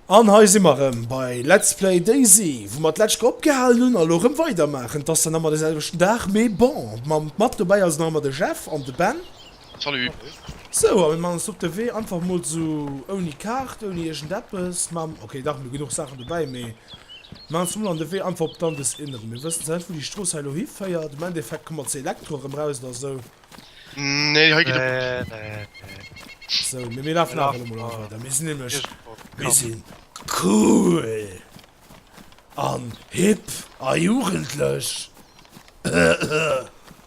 An hei si mer rëm bei Let's Play Daisy, wou mer d'lescht Kéier opgehalen hunn a lo rëm weidermaachen. Et ass dann ëmmer de selwechten Dag, mee bon, mam mat dobäi ass nach ëmmer de Jeff an de Ben. Salut! Sou, a mir man ons op de Wee, einfach mol sou ouni Kaart, ouni iergend eppes, mam, ok dach, mir hu genuch Saachen dobäi, mee mir man ons mol an de Wee einfach op d'Andes inneren. Mir wëssen zwar net wou déi Strooss hei elo hiféiert, am Endeffekt komme mer zur Elektro erëm raus oder sou. Nee, hei geet e Bus duerch. Sou, mee mir lafen awer elo mol einfach weider, mir sinn nämlech, mir sinn cool an hip a jugendlech.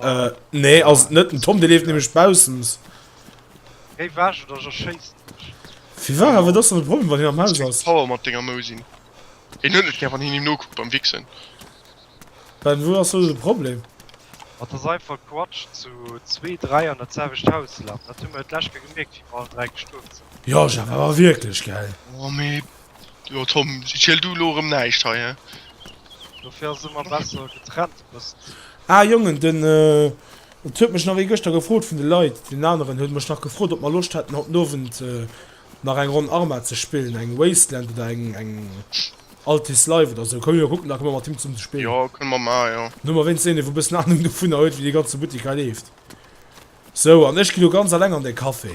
Äh, nee, ass et net. Den Tom, dee leeft nämlech baussens. Géi weg oder ech erschéissen dech. Fir war awer dat ass dann de Problem, wann hien am Haus ass. Power mat denger Mousin. Hien huet net gär wann hien him nokuckt beim Wichsen. Ben, wou ass do de Problem? Et ass einfach Quatsch zu zwee, dräi an dat selwecht Haus lafen. Dat hu mer d'lescht Kéier gemierkt, wéi mer allen dräi gestuerwen sinn. Jo, Jeff, awer wierklech, gell? Oh, mee Jo Tom, ziel du elo erëm näischt hei, hä? Dofir ass et ëmmer besser getrennt bësst. Ah Jongen, den et huet mech nach ee gëschter gefrot vun de Leit, deen aneren huet mech nach gefrot op mer Loscht hätten haut den Owend nach eng Ronn Arma ze spillen, eng Wasteland oder eng eng Altis Live oder sou. Komme mir kucken, da komme mer mat him zesummen ze spillen. Jo kënne mer maachen, jo. Dann hu mer wéinstens een dee wou e bëssen Anung dovunner huet wéi dee ganze Buttik hei leeft. Sou, an ech ginn elo ganz alleng an de Café.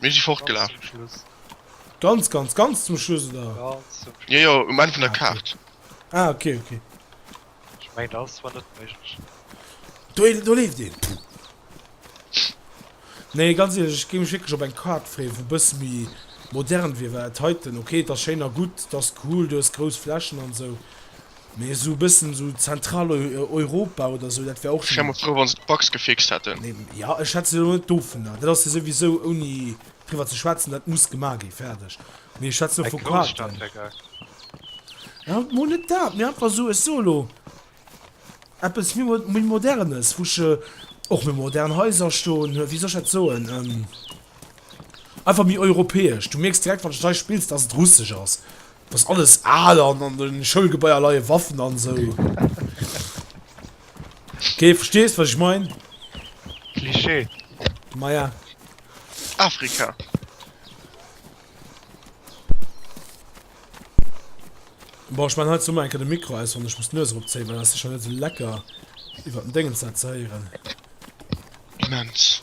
Mir si fortgelaf. Ganz, ganz, ganz zum Schluss, oder? Ganz zum Schluss. Jo, jo, um Enn vun der Kaart. Ah, ok, ok. Ech mengen, dat ass zwar net méiglech. Do, do leeft een. Puh. Nee, ganz ehrlech, ech géing mech wierklech op eng Kaart freeën, wou bësse méi modern wier, well dat heiten, ok, et ass schéin a gutt, et ass cool, du hues grouss Flächen an esou, Mee esou bëssen esou Zentraleuropa oder esou, dat wär och. Ech wär mol frou wann se d'Bugs gefixt hätten. Jo, ech schwätzen elo net dovunner, dat ass jo souwisou ouni driwwer ze schwätzen, dat muss gemaach gi fäerdeg, mee ech schwätzen elo vu Quarteren. Haut mol net dat, mee einfach esou, ech soe elo eppes méi modernes, wou ech och méi modern Haiser stoen hunn, wéi soll ech dat soen, einfach méi europäesch, du mierks direkt wann de Detail spills, dass et russesch ass. Dass alles al an an den Schoulgebaier leien Waffen an sou. Ok verstees wat ech mein? Klischee. Maja. Afrika. Boah ech man halt summer enke de Mikro aus wann ech muss d'Nues erop zéien well ass secher net sou lecker iwwert den Déngens dat ze héieren. Immens.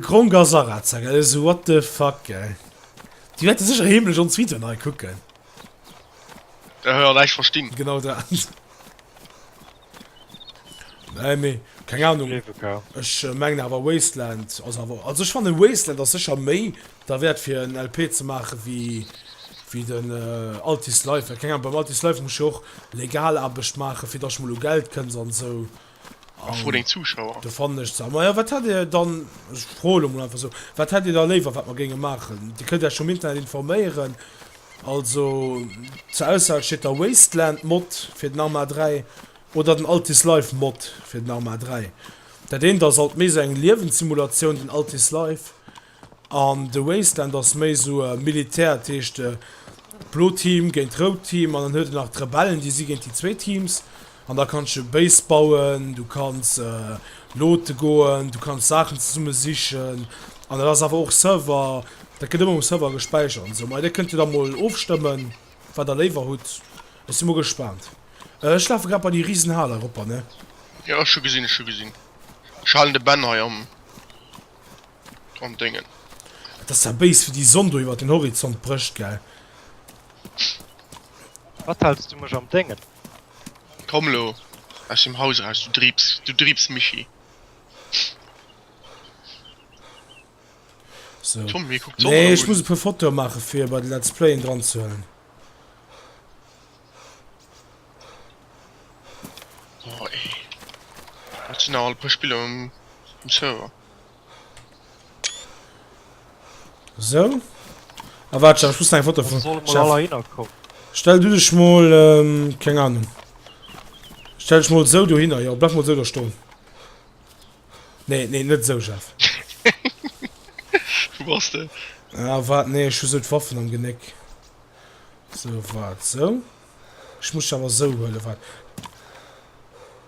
Gronk a Saraza gell eso what the fuck gell Di wette sech heemlech ons Video nei kucken Ehe an eich verstinn genau dat Nei méi keng Ahnung ech mengen awer Wasteland ass awer also ech fanne Wasteland ass secher méi der Wäert fir en LP ze maache wéi wéi den Altis Life well keng Ahnung beim Altis Life muss jo och legal Aarbecht maache fir datt ech mol u Geld kënns an esou. A fro deng Zuschauer. Do fannen ech ze. A maja, wat hätt Dir dann, ech froen elo mol einfach esou, wat hätt Dir da léiwer, wat mer géinge maachen? Dir kënnt Iech um Internet informéieren. Also zur Auswahl steet da Wasteland Mod fir den Arma 3 oder den Altis Life Mod fir den Arma 3. Dat eent ass alt méi esou eng Liewenssimulation, den Altis Life. An de Wasteland ass méi sou e Militär, dat heescht d'Bloot Team géint d'Rout Team, an dann huet en nach d'Rebellen, déi si géint déi zwéi Teams. An da kanns de Base bauen, du kanns loote goen, du kanns Saachen zesumme sichen, an dat ass awer och Server, dat gëtt ëmmer um Server gespäichert an esou. Mä dir kënnt jo da mol ofstëmmen, wat der léiwer hutt. Ech si mol gespaant. Ech lafe grad bei déi risen Hal eropper, ne? Jo, ech hu gesinn, ech hu gesinn. Ech halen de Ben hei am. dran dengen. Et ass zwar béis wéi déi Sonn do iwwert den Horizont brécht, gell? Wat haals du mech am Dengen? Komm lo aus dem Haus eraus, du Driips, du Driips Mischii! So. Tom, hie kuckt d'Sonn Nee, erëm ech un. muss e puer Fotoe maache fir bei de Let's Playen dran ze huelen. Boah, ey. Wat sinn nach al e puer Spiller um Server? So. Ah, warte schon, ich muss ein Foto von. Stell du dich mal, ähm, keine Ahnung. Stell dich mal so dahinter, ja, bleib mal so da stehen. Nee, nee, nicht so, Chef. Wo warst du? Ah, warte, nee, ich muss Waffen am Genick. So, warte, so. Ich muss aber so holen, warte.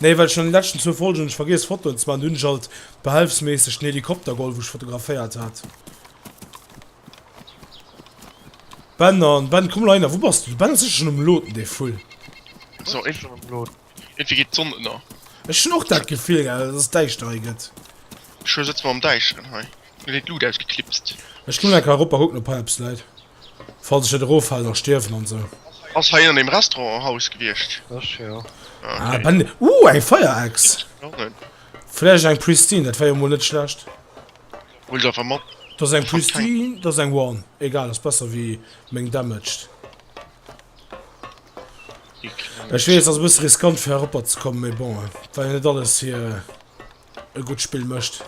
Nee well ech an den leschten zwou Folgen hunn ech vergiess Fotoen ze maachen, do hunn ech alt behelfsméisseg den Helikopter geholl wou ech fotograféiert hat. Ben an Ben komm leider wou bass du? De Ben ass sécher schonn um loaden dee Vull. So eng schonn um loaden. Irgendwie geet d'Sonn ënner. Ech hunn och dat Gefill gell dass et däischter hei gëtt. Ech sëtze mer am däischteren hei. Mir wier d'Luut ausgeklipst. Ech gin enker erop a kucken op hei eppes läit, falls ech net eroffalen a stierwen an sou. Ass hei an dem Restaurant en Haus gewiescht? Ech jo. Ah ok. Bending, uh eng Feierechs! Vläicht eng Pristine, dat wär jo mol net schlecht. Huel se einfach mat. Dat ass eng Pristine, dat ass eng One. Egal, ass besser wéi meng damaged. Ech weess, ass e bësse riskant fir heropper ze kommen, mee bon, et war jo net alles hir. e gutt Spill mécht.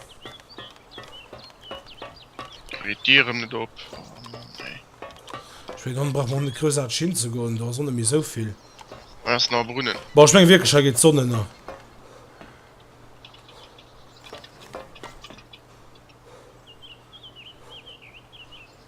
Geet d'Dieren net op? Oh Mann ey. Ech mengen dann brauche mer och net groussarteg hinzegoen, do ass och net méi esou vill. Hei ass nach e Brunnen. Bon, ech menge wierklech hei geet d'Sonn ënner.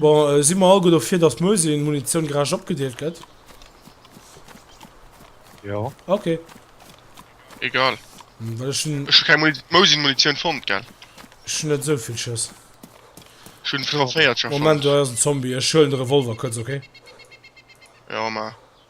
Bon, si mer all gutt dofir, datt d'Mösien-Munitioun gerecht opgedeelt gëtt? Jo. Ok. Egal. Well ech hunn. Ech hu keng Mousin-Munitioun fonnt, gell? Ech hunn net esou vill Schëss. Ech hunn 45 Schëss fonnt. Moment, hei ass en Zombie. Ech huelen de Revolver kuerz, ok? Jo, ma.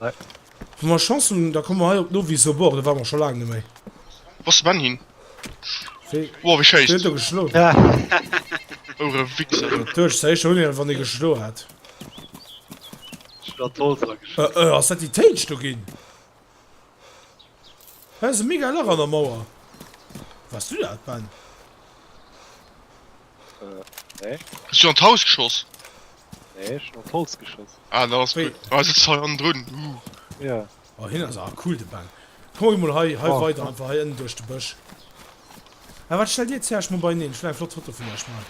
Wa mer Chance hunn, da komme mer hei op d'Novi Sobor, do ware mer scho laang net méi. Wou ass de Ben hin? Wéi? Woah, wéi schéisst. Wéi huet e geschloen? Ouh, re Wichser, du. Du, ech sinn éischter un hien, wann e geschloen hat. Ech hunn an d'Holz ageschloen. Äh, äh, ass dat déi Téitsch do ginn? Hei ass e mega Lach an der Mauer. Wars du dat, Ben? Nee. Hast du an d'Haus geschoss? Nee, ech hun an d'Holz geschoss. Ah, da ass gutt. Ah, sëtzt hei an drun. Uh. Ja. Oh, hien ass awer cool, de Ben. Komm emol hei, hei oh, weider, einfach hei ënnen duerch de Bësch. Ah, wat stellt dir zuerst mol beieneen? Ech will eng flott Foto vun iech man.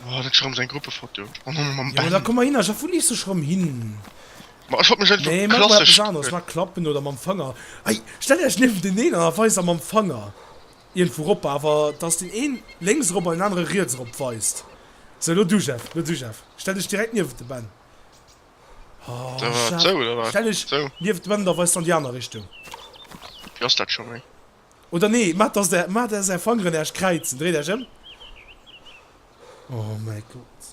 Oh, dat ass rëm seng Gruppefoto. Oh, no, mam Ben. Ja, da komm mal hin, a vu lies sech rëm hin. Ma, ech hat mech einfach nee, klassesch... Nee, mach mal eppes aneres, mach Klappen oder mam Fanger. Ei, stell iech niewenteneen an a weis am mam Fanger. Iergendwou erop, awer dass deen een lénks erop an deen anere riets erop weist. Sou, lo du Jeff, lo du Jeff. Stell dech direkt niewent de Ben. Da war et sou, oder wat? Stell dech sou niewent de Ben an da weis de an déi aner Richtung. Wéi ass dat scho méi? Oder nee, maacht dass der, maacht dass är Fangeren Äerch kräizen. Dréit Äerch ëm. Oh mäi Gott.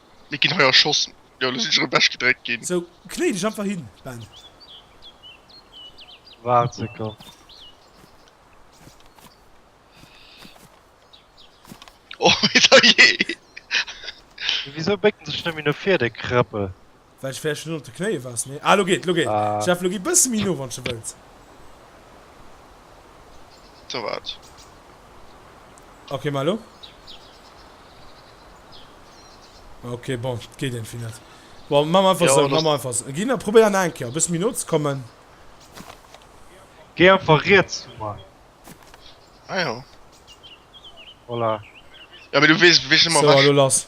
Mir ginn hei erschossen. Jo, elo sinn ech erëm wechgedréckt ginn. Sou, knéi dech einfach hin, Ben. Waart Sekonn. Oh, mee da jee! Wisou bécken sech nëmme no vir, déi Krëppel? Well ech vläicht net op de Knéie war, nee. Ah, lo geet, lo geet. Jeff, lo gi bësse méi no, wann s de wëlls. Sou, waart. Ok, mä elo? Ok, bon, et geet éntwéi net. Bon, maache mer einfach sou, maache mer einfach sou. Ginn a probéier nach eng Kéier e bësse méi no ze kommen. Géi einfach riets vu mer. Ah jo. Voilà. Jo, mee du weess, wéi ech ëmmer. Sou, a lo lass.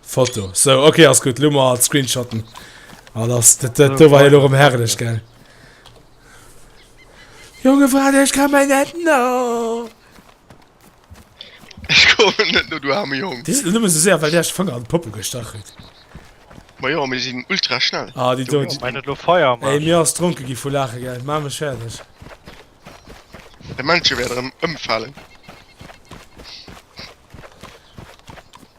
Foto sou okay ass gutt Lummer als Screenshotten an ah, ass dat do war lo um herrlech gell. Jonge Fra ech kann mei net no Ech ko net no du arme Jong. Di nëmme se séier well der ech fënner an Poppe gestachelt. Ma jo mir sinn ultra schnell. Ah di do mei net lo feier Ey mir ass dronke gi vu lache gell ma mech fäerdeg. De Mënsche wäert erëm ëmfalen.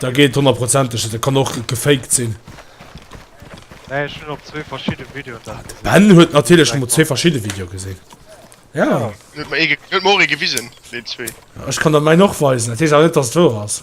Da geet honnerprozenteg net, dat kann och gefaked sinn. De Ben huet natierlech emol zwee verschidde Videoe gesinn. Jo. Ech kann der mäin och weisen, dat heescht awer net, datt et wouer ass.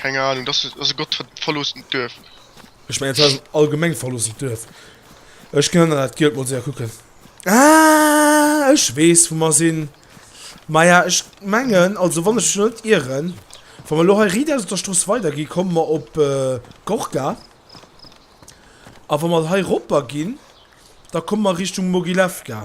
Keng Ahnung, dass ass ass e Gott verloossent Duerf. Ech mengen dat ass en allgemeng verloossent Duerf. Ech kann dat Gielt mol séier kucken. Ah ech weess wou mer sinn. Maja ech mengen, also wann ech mech net ieren, wa mer elo hei riit aus op der Strooss weider gi komme mer op Gorka. A wa mer hei eropper ginn, da komme mer Richtung Mogilewka.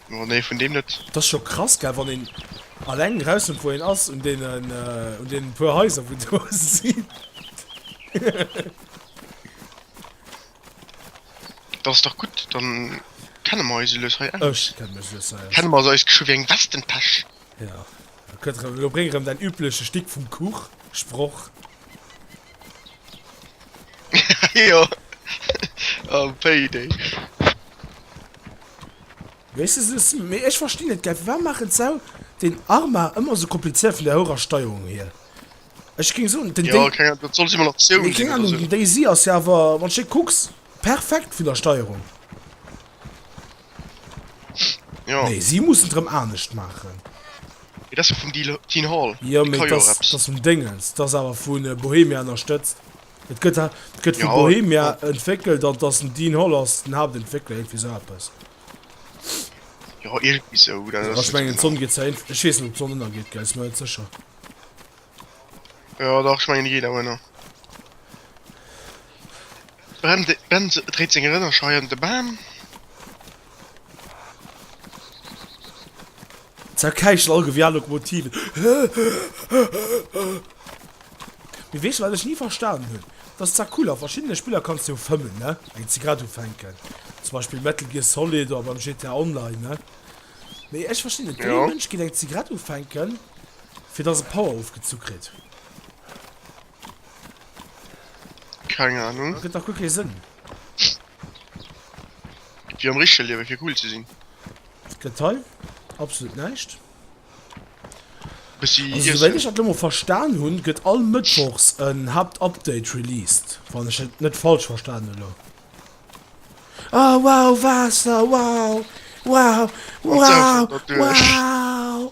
Oh nee, vun deem net. T'ass scho krass gell wann een alleng rausfënnt wou een ass un deenen un deenen puer Haiser wou do sinn. Dat ass dach gutt, dann kenne mer eis elues hei aus. Ech kenne mech lues hei aus. Kenne mer eis geschwë wéi eng Westentäsch. Ja, da kënnt rëm, elo bréng rëm däin übleche Stick vum Kuch Sproch. jo oh payday. Wees de sou si, mee ech verstinn et gäi, firwat maachen d'Sau den Arma ëmmer sou komplizéiert vun der hourer Steierung hier? Ech géing soen den Dai. Jo keng Ahnung, dat soll Simulatioun sinn oder sou. Keng Ahnung, den Daisy ass jo awer, wann de kucks, perfekt vun der Steierung. Ja. Nee, si mussen et rëm anescht maachen. Mee dat ass jo vum Deal, Dean Hall. Jo, Dee mee ka jo dass, eppes. dass vum Déngens. Dass awer vu Bohemia ënnerstëtzt. Et gëtt ha, et gëtt vu Ja, Bohemia ja. entwéckelt an dass den Dean Hall ass den Haaptentwéckler, iergendwéi sou eppes. Jo, iergendwéi sou. Dat Jo, ass ech net sou mengen, genau. d'Sonn geet zwar ent, ech weess net, ob d'Sonn ënnergeet, gell, si mer net sécher. Jo dach ech mengen déi geet awer nach. Ben dréit seng Rënner schei an de Bam. Ze erkäichen all Gewier Lokomotive. Mee weess de wat ech ni verstanen hunn? Dass Zacula a verschiddene Spiller kanns de jo fëmmen ne, wéi se grad ufänken. Zum Beispill Metal Gear Solid oder beim GTA Online ne. Mee ech verstinn net, dee Mënsch geet eng Zigarett ufänken Fir dass e Power ofgezu kritt. Keng Ahnung. Gëtt dach guer kee Sënn. Wéi am richtege Liewe fir cool ze sinn. Gëtt hei absolut näischt. Bëssi Also souwéit ech dat elo mol verstan hunn, gëtt all mëttwochs en Haaptupdate released, wann ech et net falsch verstan hunn elo. Oh wow, Waasser, wow, wow, wow, wow!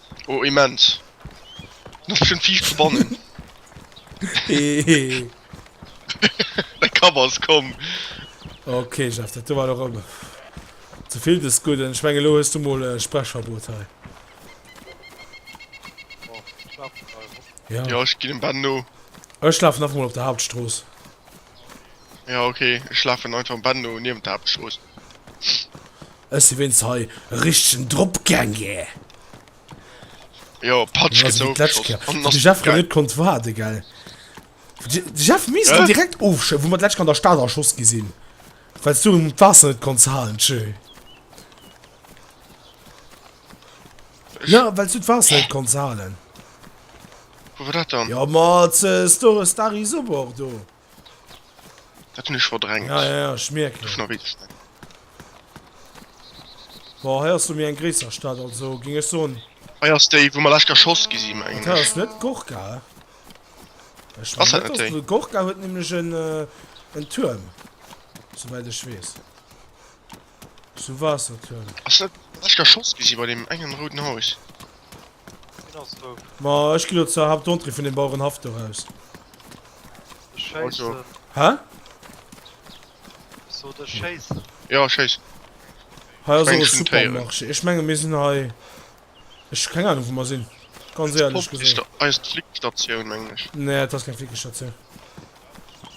Oh immens. Noch bestimmt Viech zu bannen. Hehehe. Dein Cover ist komm. Okay, Jeff, dat do war doch ëmmer zevill des Gudden. Ech menge lo hues du mol e Sprechverbot hei. Ja, ech ginn dem Ben no. Ech lafen einfach mol op der Hauptstrooss. Ja ok, ech laafen einfach am Bett no niewent der Haaptstrooss. Ech si wéinst hei e richtegen Drop gaange. Jo, Patsch gëtt sou ofgeschoss an ass direkt gäll. Konnt waarde gell de Jeff mies en direkt ofscho wou mer d'lescht an der Stad erschoss gi sinn wells du um d'Waasser net konns halen tjö. Ja, well s du d'Waasser net konns halen. Wou war dat dann? Ja, mat Store Stary Sobor do. Dat hunn ech verdrängt. Ja, ja, ja, ech mierken. Duerch Noritz, ne? Bon, hei ass lo méi eng gréisser Stad, also géing ech soen. Hei ass déi, wou mer lech erschoss gi sinn, mengen ech. Dat hei ass net Gorka, he? Ech mengen net, dass déi. Gorka huet nämlech en Tuerm, souwäit ech weess. Zu Wasserturm. Ass dat wat ech geschoss gesi bei deem engen rouden Haus? Deen ass dout. Ma ech gi lo zur Hauptentrée vun dem Bauerenhaff do raus. Ech Also. schéissen. Hä? Ech sot ech schéissen. Jo, schéiss. Hei ass och e Supermarché. Ech menge mir sinn hei. Ech hu keng Ahnung wou mer sinn, ganz Eis éierlech Pomp gesot. eis Flickstatioun mengen ech. Nee, et ass keng Flickestatioun.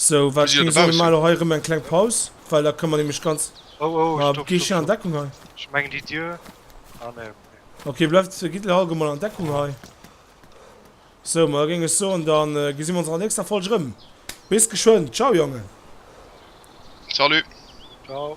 Sou, wat mir soe mal hei erëm eng kleng Paus, well da kënne mer nämlech ganz. Oh oh, stopp, stopp. Geet hien an Deckung hei? Ech mengen déi Dier. Ah nee, okay. Okay, bleift, gitt elo all gou mol an Deckung hei. Sou, ma da géing ech soen, da gesi mer ons an der nächster Folg erëm. Bis geschwënn. Ciao Jongen. Salut. Ciao.